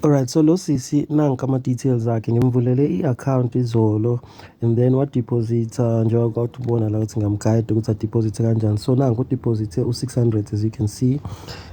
Alright so lo sisi nanka ama details akhe ngimvulele i account izolo and then wa deposita njengoba kwawuthi ubona la ukuthi ngamguide ukuthi a deposit kanjani so nanku deposite u 600 as you can see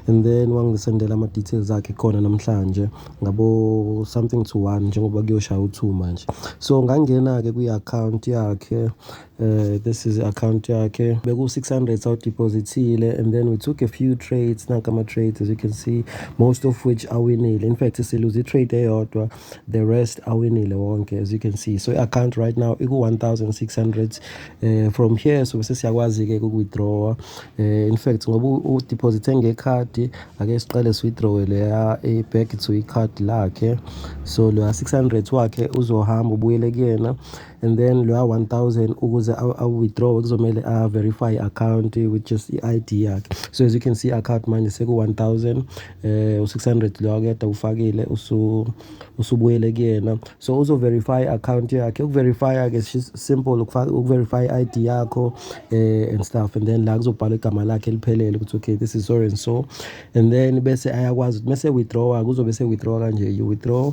and then wangisendela ama details akhe khona namhlanje ngabo something to one njengoba kuyoshaya u 2 manje so ngangena ke kwi account yakhe Uh, this is account yakhe beku-600 sawudeposithile and then we took a few trades nanka ama-trades as you can see most of which awinile in fact siluze i-trade eyodwa the rest awinile wonke as you can see so i-account right now iku-1600 uh, eh, from here so bese siyakwazi-ke kuku-withdrawa uh, eh, in fact ngoba udeposithe ngekhadi ake siqale si-withdrawe leya i-back to ikhadi lakhe so leya 600 wakhe uzohamba ubuyele kuyena and then loya 1000 ukuze awu-withdraw kuzomele a-verify account with just i-id yakhe so as you can see account manje seku-1000 um eh, u-600 loyo akuyeda ufakile usubuyele kuyena so uzo-verify account yakhe ukuverifya-ke simple ukuverify i-id yakho um and stuff and then la kuzobhalwa igama lakhe eliphelele ukuthi okay this is so and so and then bese ayakwazi ukuthi mese-withdrawa kuzobe se-withdrawa kanje you withdraw